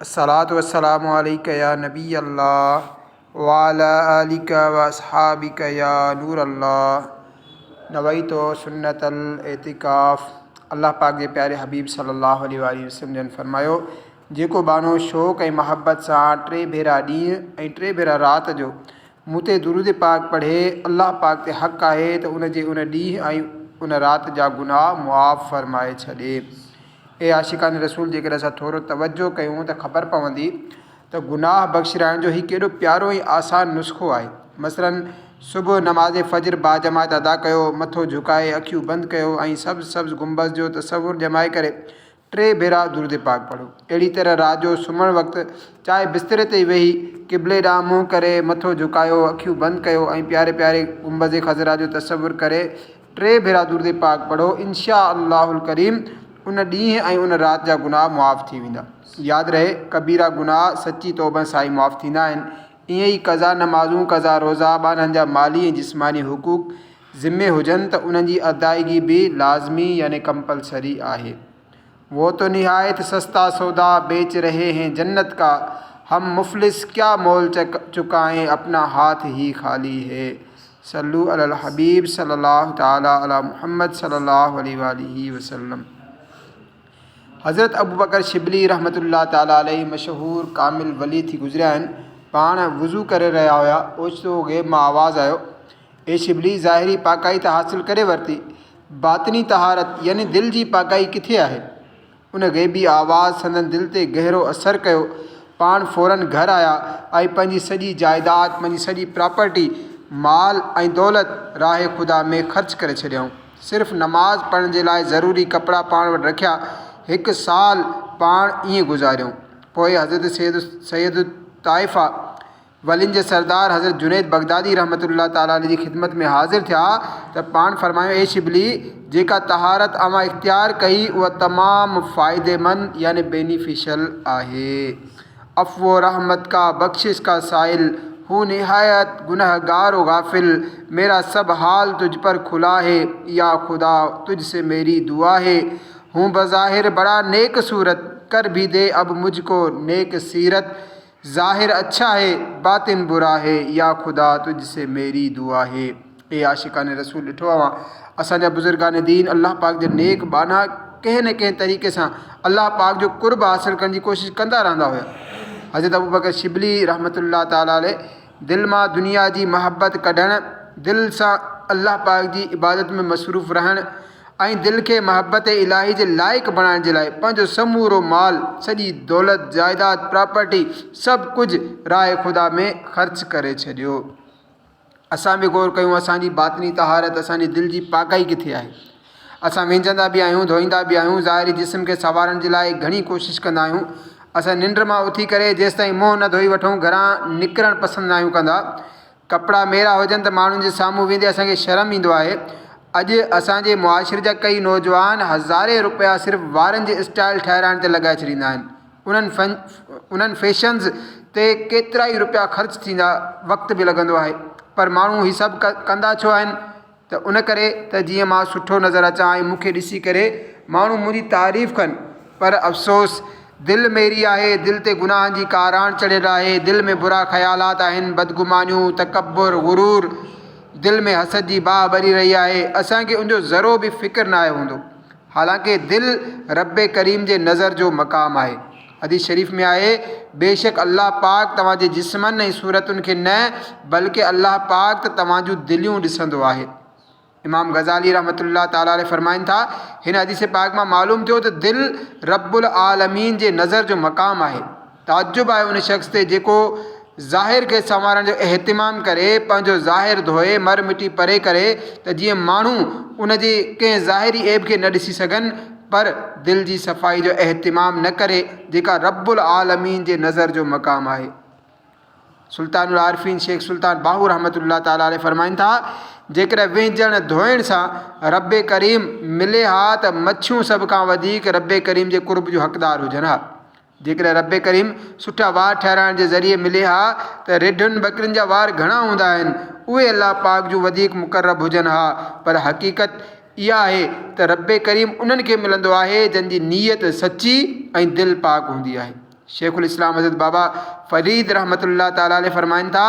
الصلوة والسلام عليك يا نبي الله وعلى آلك واصحابك يا نور الله نويت سنت الاعتکاف الله پاڪ جي پياري حبيب صلي الله عليه وآله وسلم جن فرمايو جيڪو ٻانهو شوق ۽ محبت سان ٽي ڀيرا ڏينهن ۽ ٽي ڀيرا رات جو مون تي درود پاڪ پڙهي الله پاڪ تي حق آهي ته ان جي ان ڏينهن ۽ ان رات جا گناهه معاف فرمائي ڇڏي. اي عاشقان رسول جيڪڏهن اسان ٿورو توجهه ڪيون ته خبر پوندي ته گناهه بخشرائڻ جو هي ڪيڏو پيارو ۽ آسان نسخو آهي. مثلاً صبح نماز فجر باجماعت ادا ڪيو، مٿو جهڪائي اکيون بند ڪيو ۽ سبز سبز گنبذ جو تصور ڄمائي ڪري ٽي ڀيرا درود پاڪ پڙهو. اهڙي طرح رات جو سمهڻ وقت چاهي بستري تي ئي ويهي قبلي ڏانهن منهن ڪري مٿو جهڪايو، اکيون بند ڪيو ۽ پياري پياري گنبذ خضرا جو تصور ڪري، ٽي ڀيرا درود پاڪ پڙهو انشاء الله الڪريم ان ڏينهن ۽ ان رات جا گناهه معاف ٿي ويندا. ياد رهي ڪبيرا گناهه سچي توبه سان ئي معاف ٿيندا آهن. ائين ئي قضا نمازون، قضا روزا، ٻانهن جا مالي ۽ جسماني حقوق، ذمي، هجن ته انهن جي ادائگي به لازمي يعني ڪمپلسري آهي. وو تو نهايت سستا سودا بيچ رهي هين جنت ڪا هم مفلس ڪيا مول چڪائين اپنا هاٿ هي خالي هي صلو علي الحبيب صلي الله تعالي علي محمد صلي الله عليه واٰله وسلم حضرت ابوبڪر شبلي رحمة الله تعالي عليه مشهور ڪامل ولي ٿي گذريا آهن پاڻ وضو ڪري رهيا هيا اوچتو غيب مان آواز آيو اي شبلي! ظاهري پاڪائي ته حاصل ڪري ورتي، باطني طهارت يعني دل جي پاڪائي ڪٿي آهي؟ ان غيبي آواز سندن دل تي گهرو اثر ڪيو. پاڻ فوراً گهر آيا ۽ پنهنجي سڄي جائيداد، پنهنجي سڄي پراپرٽي، مال ۽ دولت راهه خدا ۾ خرچ ڪري ڇڏيائون. صرف نماز پڙهڻ جي لاء ضروري ڪپڙا پاڻ وٽ رکيا. هڪ سال پاڻ ائين گذاريائون. پوء حضرت سيد سيد الطائفه، ولين جي سردار حضرت جنيد بغدادي رحمة الله تعالٰي عليه جي خدمت ۾ حاضر ٿيا ته پاڻ فرمايو، اي شبلي! جيڪا طهارت اوهان اختيار ڪئي اها تمام فائديمند يعني Beneficial آهي. عفو و رحمت ڪا، بخشش ڪا سائل هون نهايت گنهگار و غافل، ميرا سب حال تجھ پر کلا هي، يا خدا! تجھ سي ميري دعا هي، هون بظاهر بڙا نيڪ صورت، کر ڀي دي اب مجھ ڪو نيڪ سيرت، ظاهر اڇا هي باطن برا هي يا خدا تجھ سي ميري دعا هي اي عاشقان رسول ڏٺو اوهان اسان جا بزرگان دين الله پاڪ جا نيڪ ٻانها ڪنهن نه ڪنهن طريقي سان الله پاڪ جو قرب حاصل ڪرڻ جي ڪوشش ڪندا رهندا هيا حضرت ابوبڪر شبلي رحمة الله تعالٰي عليه دل مان دنيا جي محبت ڪڍڻ، دل سان الله پاڪ جي عبادت ۾ مصروف رهڻ ۽ دل کي محبت الاهي جي لائق بڻائڻ جي لاء پنهنجو سمورو مال، سڄي دولت، جائيداد، پراپرٽي، سڀ ڪجهه راء خدا ۾ خرچ ڪري ڇڏيو. اسان به غور ڪيون اسان جي باطني طهارت، اسان جي دل جي پاڪائي ڪٿي آهي؟ اسان وينجهندا به آهيون، ڌوئيندا به آهيون، ظاهري جسم کي سنوارڻ جي لاء گهڻي ڪوشش ڪندا آهيون. اسان ننڊ مان اٿي ڪري جيستائين منهن نه ڌوئي وٺون، گهران نڪرڻ پسند ناهيون ڪندا. ڪپڙا ميرا هجن ته ماڻهن جي سامهون ويندي اسان کي شرم ايندو آهي. اڄ اسان جي معاشري جا ڪيئي نوجوان هزارين روپيا صرف وارن جي اسٽائيل ٺهرائڻ تي لڳائي ڇڏيندا آهن. انهن انهن فيشنز تي ڪيترائي روپيا خرچ ٿيندا، وقت به لڳندو آهي، پر ماڻهو هي سڀ ڪندا ڇو آهن؟ ته ان ڪري ته جيئن مان سٺو نظر اچان ۽ مون کي ڏسي ڪري ماڻهو منهنجي تعريف ڪن. پر افسوس! دل ميري آهي، دل تي گناهن جي ڪاراڻ چڙهيل آهي، دل ۾ برا خيالات آهن، بدگمانيون، تڪبر، غرور، دل ۾ حسد جي باهه ٻري رهي آهي، اسان کي ان جو ذرو به فڪر ناهي هوندو. حالانڪ دل ربّ ڪريم جي نظر جو مقام آهي. حديث شريف ۾ آهي، بيشڪ الله پاڪ توهان جي جسمن ۽ صورتن کي نه بلڪه الله پاڪ ته توهان جون دليون ڏسندو آهي. امام غزالي رحمة الله تعالٰي عليه فرمائن ٿا، هن حديث پاڪ مان معلوم ٿيو ته دل ربّ العالمين جي نظر جو مقام آهي. تعجب آهي ان شخص تي جيڪو ظاهر کي سنوارڻ جو اهتمام ڪري، پنهنجو ظاهر ڌوئي، مر مٽي پري ڪري ته جيئن ماڻهو ان جي ڪنهن ظاهري عيب کي نه ڏسي سگهن، پر دل جي صفائي جو اهتمام نه ڪري، جيڪا رب العالمين جي نظر جو مقام آهي. سلطان العارفين شيخ سلطان باهو رحمة الله تعالٰي عليه فرمائن ٿا، جيڪڏهن وهنجڻ، ڌوئڻ، سان رب ڪريم ملي ها ته مڇيون سڀ کان وڌيڪ رب ڪريم جي قرب جون حقدار هجن ها. جيڪڏهن رب ڪريم سٺا وار ٺهرائڻ جي ذريعي ملي ها ته رڍن ٻڪرين جا وار گهڻا هوندا آهن اهي الله پاڪ جون وڌيڪ مقرب هجن ها پر حقيقت اها آهي ته رب ڪريم انهن کي ملندو آهي جن جي نيت سچي ۽ دل پاڪ هوندي آهي شيخ الاسلام حضرت بابا فريد رحمة الله تعالٰي عليه فرمائن ٿا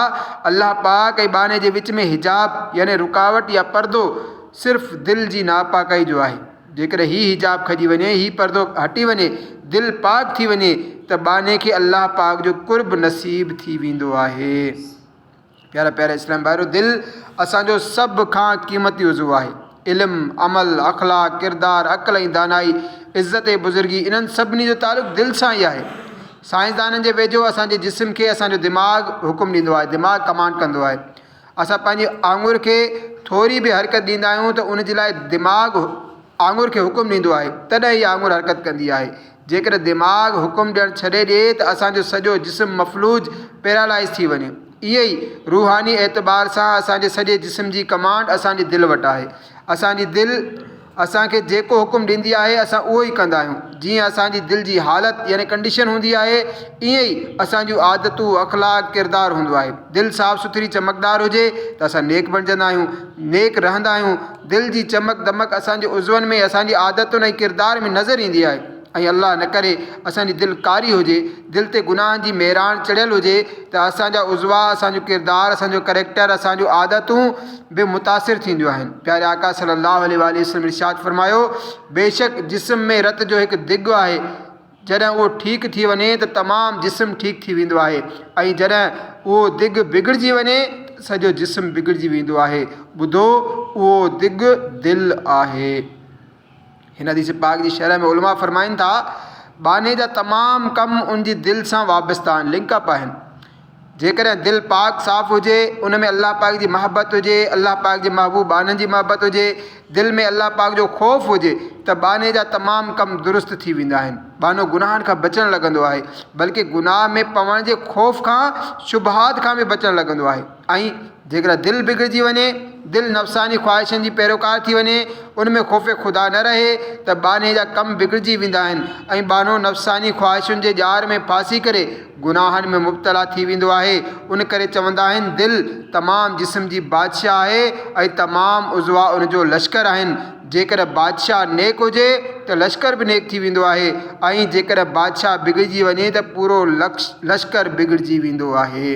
الله پاڪ ۽ ٻانهي جي وچ ۾ حجاب يعني رڪاوٽ يا پردو صرف دل جي ناپاڪي جو آهي جيڪڏهن هي حجاب کڄي وڃي، هي پردو هٽي وڃي، دل پاڪ ٿي وڃي ته ٻانهي کي الله پاڪ جو قرب نصيب ٿي ويندو آهي. پيارا پيارا اسلامي ڀائرو! دل اسان جو سڀ کان قيمتي عضو آهي. علم، عمل، اخلاق، ڪردار، عقل ۽ دانائي، عزت ۽ بزرگي انهن سڀني جو تعلق دل سان ئي آهي. سائنسدانن جي ويجهو اسان جي جسم کي اسان جو دماغ حڪم ڏيندو آهي، دماغ ڪمانڊ ڪندو آهي. اسان پنهنجي آڱر کي ٿوري به حرڪت ڏيندا آهيون ته ان جي لاء دماغ آڱر کي حڪم ڏيندو آهي تڏهن هي آڱر حرڪت ڪندي آهي. جيڪڏهن دماغ حڪم ڏيڻ ڇڏي ڏئي ته اسان جو سڄو جسم مفلوج، Paralyze، ٿي وڃي. ائين ئي روحاني اعتبار سان اسان جي سڄي جسم جي ڪمانڊ اسان جي دل وٽ آهي. اسان جي دل. اسان کي جيڪو حڪم ڏيندي آهي اسان اهو ئي ڪندا آهيون. جيئن اسان جي دل جي حالت يعني ڪنڊيشن هوندي آهي ائين ئي اسان جون عادتون، اخلاق، ڪردار هوندو آهي. دل صاف سٿري چمڪدار هجي ته اسان نيڪ بڻجندا آهيون، نيڪ رهندا آهيون. دل جي چمڪ دمڪ اسان جي عضون ۾، اسان جي عادتن ۽ ڪردار ۾ نظر ايندي آهي. ۽ الله نه ڪري اسان جي دل ڪاري هجي، دل تي گناهن جي ميراڻ چڙهيل هجي ته اسان جا عضوا، اسان جو ڪردار، اسان جو ڪريڪٽر، اسان جون عادتون به متاثر ٿينديون آهن. پياري آقا صلّي اللّٰه عليه واٰله وسلّم ارشاد فرمايو، بيشڪ جسم ۾ رت جو هڪ دڳ آهي، جڏهن اهو ٺيڪ ٿي وڃي ته تمام جسم ٺيڪ ٿي ويندو آهي ۽ جڏهن اهو دڳ بگڙجي وڃي ته سڄو جسم بگڙجي ويندو آهي. ٻڌو، اهو دڳ دل آهي. هن حديث پاڪ جي شرح ۾ علماء فرمائن ٿا، ٻانهي جا تمام ڪم ان جي دل سان وابسته آهن، لنڪ اپ آهن. جيڪڏهن دل پاڪ صاف هجي، ان ۾ الله پاڪ جي محبت هجي، الله پاڪ جي محبوب ٻانهن جي محبت هجي، دل ۾ الله پاڪ جو خوف هجي ته ٻانهي جا تمام ڪم درست ٿي ويندا آهن. ٻانهو گناهن کان بچڻ لڳندو آهي، بلڪه گناهه ۾ پوڻ جي خوف کان، شبهات کان به بچڻ لڳندو آهي. ۽ جيڪڏهن دل بگڙجي وڃي، دل نفساني خواهشن جي پيروڪار ٿي وڃي، ان ۾ خوف خدا نه رهي ته ٻانهي جا ڪم بگڙجي ويندا آهن ۽ ٻانهو نفساني خواهشن جي ڄار ۾ ڦاسي ڪري گناهن ۾ مبتلا ٿي ويندو آهي. ان ڪري چوندا آهن دل تمام جسم جي بادشاهه آهي ۽ تمام عضوا ان جو لشڪر آهن. جيڪڏهن بادشاهه نيڪ هجي ته لشڪر به نيڪ ٿي ويندو آهي ۽ جيڪڏهن بادشاهه بگڙجي وڃي ته پورو لشڪر بگڙجي ويندو آهي.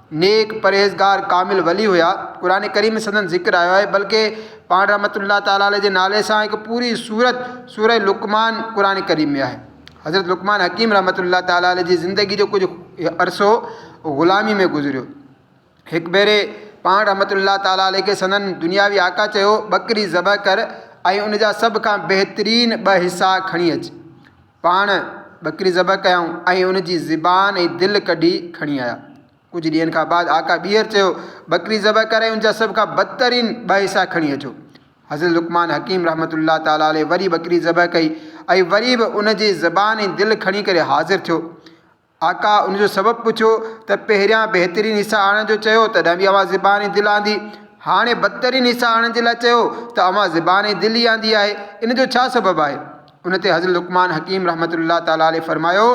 نيڪ، پرهيزگار، ڪامل ولي هيا. قرآن ڪريم ۾ سندن ذڪر آيو آهي بلڪه پاڻ رحمة الله تعالٰي عليه جي نالي سان هڪ پوري سورت سورة لقمان قرآن ڪريم ۾ آهي. حضرت لقمان حڪيم رحمة الله تعالٰي عليه جي زندگي جو ڪجهه عرصو غلامي ۾ گذريو. هڪ ڀيري پاڻ رحمة الله تعالٰي عليه کي سندن دنياوي آقا چيو، ٻڪري ذبح ڪر ۽ ان جا سڀ کان بهترين ٻه حصا کڻي اچ. پاڻ ٻڪري ذبح ڪيائون ۽ ان جي زبان ۽ دل ڪڍي کڻي آيا. ڪجهه ڏينهن کان بعد آقا ٻيهر چيو، ٻڪري ذبح ڪري ان جا سڀ کان بدترين ٻه حصا کڻي اچو. حضرت لقمان حڪيم رحمة الله تعالٰي عليه وري ٻڪري ذبح ڪئي ۽ وري به ان جي زبان ۽ دل کڻي ڪري حاضر ٿيو. آقا ان جو سبب پڇيو ته پهريان بهترين حصا آڻڻ جو چيو تڏهن به اوهان زبان ۽ دل آندي هاڻي بدترين حصا آڻڻ جي لاء چيو ته اوهان زبان ۽ دل ئي آندي آهي ان جو ڇا سبب آهي؟ ان تي حضرت لقمان حڪيم رحمة الله تعالٰي عليه فرمايو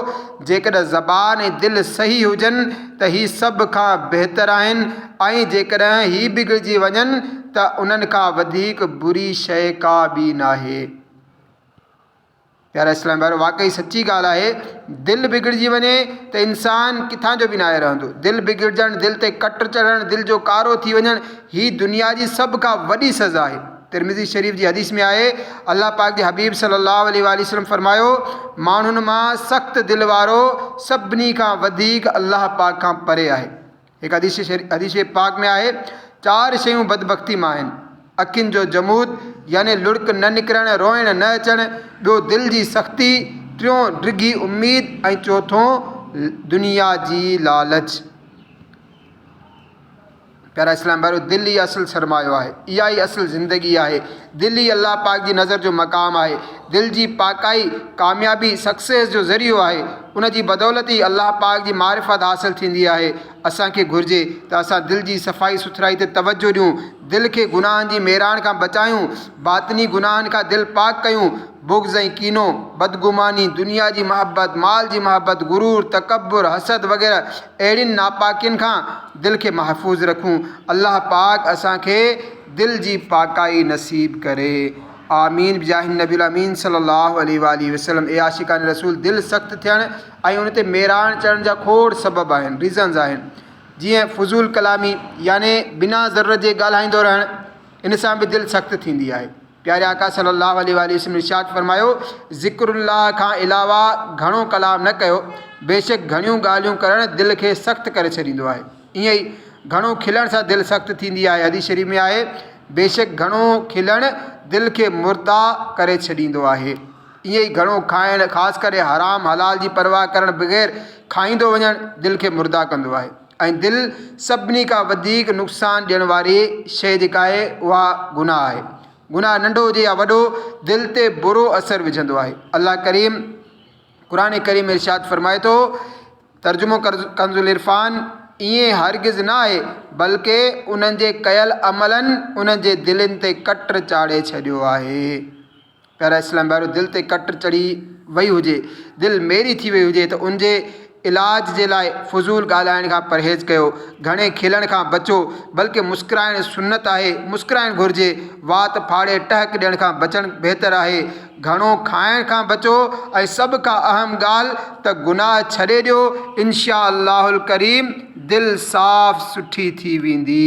جيڪڏهن زبان ۽ دل صحيح هجن ته هي سڀ کان بهتر آهن ۽ جيڪڏهن هي بگڙجي وڃن ته انهن کان وڌيڪ بري شيء ڪا ٻي ناهي. پيارا اسلامي ڀائرو! واقعي سچي ڳالهه آهي، دل بگڙجي وڃي ته انسان ڪٿان جو به ناهي رهندو. دل بگڙجڻ، دل تي ڪٽ چڙهڻ، دل جو ڪارو ٿي وڃڻ، هي دنيا جي سڀ کان وڏي سزا آهي. ترمذي شريف جي حديث ۾ آهي، الله پاڪ جي حبيب صلّي اللّٰه عليه واٰله وسلّم فرمايو، ماڻهن مان سخت دل وارو سڀني کان وڌيڪ الله پاڪ کان پري آهي. هڪ حديث شريف حديث پاڪ ۾ آهي، چار شيون بدبختي مان آهن، اکين جو جمود يعني لڙڪ نه نڪرڻ، روئڻ نه اچڻ، ٻيو دل جي سختي، ٽيون ڊگهي اميد ۽ چوٿون دنيا جي لالچ. پيارا اسلام ڀائرو! دل ئي اصل سرمايو آهي، اها ئي اصل زندگي آهي. دل ئي الله پاڪ جي نظر جو مقام آهي. دل جي پاڪائي ڪاميابي، Success، جو ذريعو آهي. ان جي بدولت ئي الله پاڪ جي معرفت حاصل ٿيندي آهي. اسان کي گهرجي ته اسان دل جي صفائي سٿرائي تي توجهه ڏيون، دل کي گناهن جي ميراڻ کان بچايون، باطني گناهن کان دل پاڪ ڪيون، بغض ۽ ڪينو، بدگماني، دنيا جي محبت، مال جي محبت، غرور، تڪبر، حسد وغيره اهڙين ناپاڪين کان دل کي محفوظ رکون. الله پاڪ اسان کي. دل جي پاڪائي نصيب ڪري آمين بجاه النبي الامين صلي الله عليه واٰله وسلم اي عاشقان رسول دل سخت ٿيڻ ۽ ان تي ميراڻ چڙهڻ جا کوڙ سبب آهن Reasons آهن جيئن فضول ڪلامي يعني بنا ضرورت جي ڳالهائيندو رهڻ ان سان به دل سخت ٿيندي آهي پياري آقا صلي الله عليه واٰله وسلم ارشاد فرمايو، ذڪر الله کان علاوه گهڻو ڪلام نه ڪيو، بيشڪ گهڻيون ڳالهيون ڪرڻ دل کي سخت ڪري ڇڏيندو آهي. ائين ئي گهڻو کلڻ سان دل سخت ٿيندي آهي، حديث شريف ۾ آهي، بيشڪ گهڻو کلڻ دل کي مرده ڪري ڇڏيندو آهي. ائين ئي گهڻو کائڻ، خاص ڪري حرام حلال جي پرواهه ڪرڻ بغير کائيندو وڃڻ دل کي مرده ڪندو آهي. ۽ دل سڀني کان وڌيڪ نقصان ڏيڻ واري شيء جيڪا آهي اها گناهه آهي. گناهه ننڍو هجي يا وڏو دل تي برو اثر وجهندو آهي. الله ڪريم قرآن ڪريم ۾ ارشاد فرمائي ٿو، ترجمو ڪنزالعرفان، ائين هرگز نه آهي بلڪ انهن جي ڪيل عملن انهن جي دلين تي ڪٽر چاڙهي ڇڏيو آهي. پيارا اسلام ڀائرو! دل تي ڪٽ چڙهي وئي هجي، دل ميري ٿي وئي هجي ته ان جي علاج جي لاء فضول ڳالهائڻ کان پرهيز ڪيو، گهڻي کلڻ کان بچو، بلڪه مسڪرائڻ سنت آهي، مسڪرائڻ گهرجي، وات ڦاڙي ٽهڪ ڏيڻ کان بچڻ بهتر آهي، گهڻو کائڻ کان بچو ۽ سڀ کان اهم ڳالهه ته گناهه ڇڏي ڏيو، انشاء الله الڪريم دل صاف سٺي ٿي ويندي.